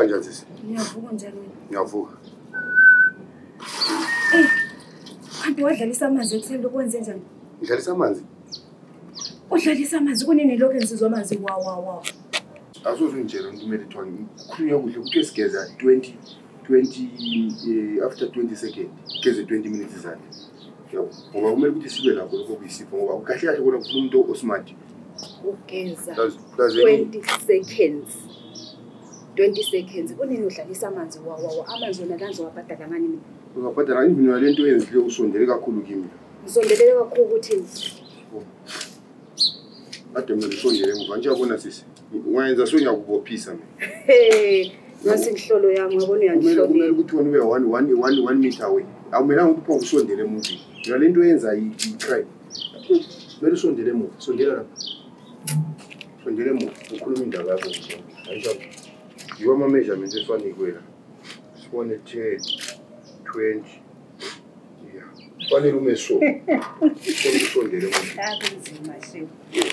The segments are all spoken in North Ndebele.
Unavuka njani sisi? Ninavuka njani? Ninavuka. Eh. Kanti wadlalisa amanzi ekuseni lokwenze njani? ngidlalisa amanzi udlalisa amanzi kunini lokhu ensizwa amanzi wawawa asoze ungitshela umuntu kumele kuthiwa kukhulunywa kuhle kuthiwe sigeza 20 20 eh, after 20 second geze 20 minutes izandla yabo ngoba kumele ukuthi sibe lakho lokho kuyisipho ngoba kahle kahle kona kufuna umuntu osmart ugeza 20 seconds 20 seconds kunini udlalisa amanzi wawawa amanzi wona kanzi wabhadala ngani mina ungabhadala even yale nto yenzile usondele kakhulu kimi Ngisondelele kakhulu ukuthi Ade mina ngisondele ngoba nje yabona sisi. Ungayenza so ngiyakubophisa mina. Hey, nasi inhlolo yami ngabona uyangihlonipha. Kumele ukuthi wena ube 1 1 1 1 meter away. Awumelanga ukuthi pho usondele emuntu. Yona lento yenza i crime. Mele usondele emuva, sondela lapha. Sondela emuva, ukhuluma indaba yakho nje. Ayisho. Yiwa ama measurements efanikwe la. Sibone 10 20 fanele ume so usondele akunzima shewu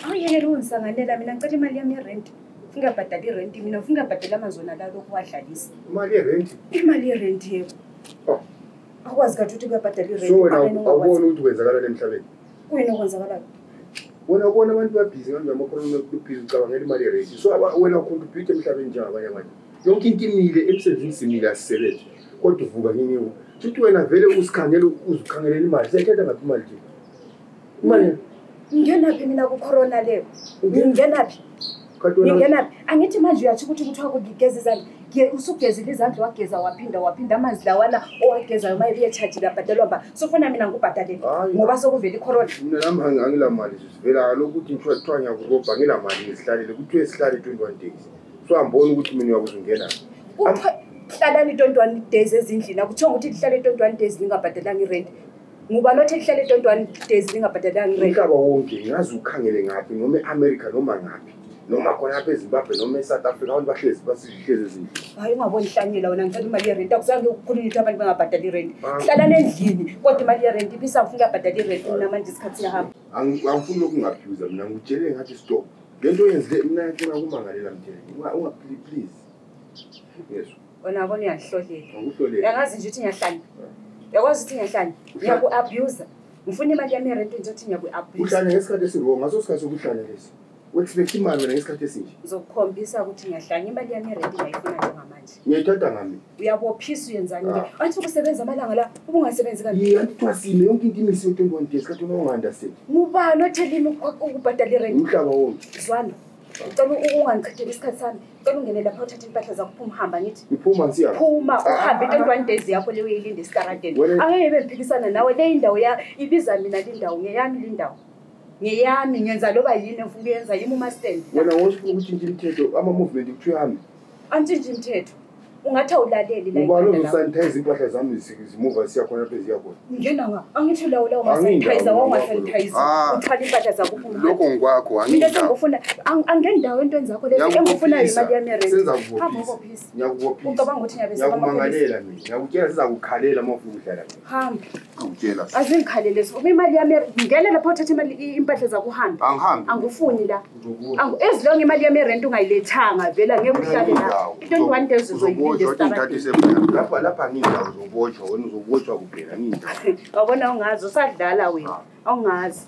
awuyekela ungisanganela mina ngicela imali yami yerenti ungabhadali irenti mina ufuna ungabhadali amanzi wona lalo okuwadlalisa imali yerenti imali yerenti yebo oh. akwazi kathi ukuthi kuyabhadala irenti so wena awuboni ukuthi kwenzakalani emhlabeni kuyini okwenzakalayo wena ubona abantu babhizi ngambe amakhono lubhizi ucabangela imali yerenti so wena ucontribute emhlabeni njengabanye abantu yonke into imile emsebenzini simile asisebenzi kodwa uvuka nini yona futhi wena vele usikhangele uzikhangelele imali siyayithatha ngaphi imali nje imali ngingenaphi mina kukhorona leyo ngingenaphi ngingenaphi angithi manje uyatsho ukuthi kuthiwa kugigeza izandla usugezile izandla wageza waphinda waphinda amanzi lawana owagezayo uma ebuyetshajile abhadalwa mba sofuna mina ngikubhadalele ngoba sokuvela ikhorona mina nami angilamali zivela kaloku ukuthi kuthiwa ngiyakubobha ngilamali ngizihlalele kuthiwa esihlale twenty one days so amboni ukuthi mina uyakuzungena hlalani itontwani days ezindlini akuthiwa ukuthi lihlale itontwani days lingabhadalanga irenti nguba lothe lihlale itontwani days lingabhadalanga irenti umhlaba wonke ngazi ukhangele ngaphi noma e-amerika noma ngaphi noma khona apha ezimbabwe noma esouth africa abantu bahlezi basihlezi ezindlini hayi ungaboni hlanyela wena ngicela imali yerenti akuzange ukukhulula ukuthi abantu bangabhadali irenti ah. hlalani endlini kodwa imali yerenti ibisafuna uyabhadala irenti unamanje isikhathi siyahamba angifuni lokhu ngaphiuza mina ngikutshele ngathi stop le nto yenzile mna yacela kumangalela mthele ungaphili please yezwa wena bona uyahlolela yangazi nje ukuthi ngiyahlanya yakwazi ukuthi ngiyahlanya ngiyaku-abusa ngifuna imali yami erentini nje ukuthi ngiyaku-abusa uhlanya ngesikhathi esirongo ngaso sikhathi sokuhlanya lesi u-expect imali wena ngesikhathi esinje ngizokukhombisa ukuthi ngiyahlanya imali yami erentini ayifuna njengamanje ngiyayithatha ngami uyabophisa uyenzani ke ah. athi ukusebenza amalanga la ubungasebenzi kaniye andithwasile yonke into imisi yo-twenty one days kathi unonga-understand ngubani othelini ukubhadala irent umhlaba wonke zwana cela ungangichitheli isikhathi sami cela ungene lapha uthathe impahla zakho phuma uhamba ngithi iphuma nsiya phuma ah, uhambe ah, twenty one days yakho leyo uyilinde esikaradeni angeke bengiphikisana nawe le indawo ya ibiza mina le ndawo ngeyami le ndawo ngeyami ngenza loba yini engifuna ukuyenza yimi umastand wena wosho ukuthi nje imithetho ama-movement kuthiwa hambe antshintshi mthetho ungathi awulaleli la ubani ikhanda lakho. ozosanitize impahla zami zi- zimuva siya khona lapha eziya khona ngena nga angithi lawo lawo Angindawo masanitizer lawo. wangasanitizer Ah. uthwala impahla zakho uphuma lokho ngikwakho mina angindawo sengifuna ang- angeni ndawo entweni zakho lezi engifunayo Ngiyakubophisa. imali yami yerenti Senza hamba kubophisa. ubophisa Ngiyakubophisa. ucabanga ukuthi ngiyabesaba Ngiyakumangalela mina. Ngiyakutshela sizakukhalela uma ufuna ukudlala mina. hamba angitshela azingikhalele so imali yami yer- ngena lapha uthatha imali i- impahla zakho uhambe angihambi angifuni la awu ezilonge imali yami erenti ungayilethanga vela ngeke uhlale la into endiwani into ezizoyilindestalapha lapha ngindawo zobotshwa wena uzobotshwa kuphela ngindawo wabona ungazi usadlala wena awungazi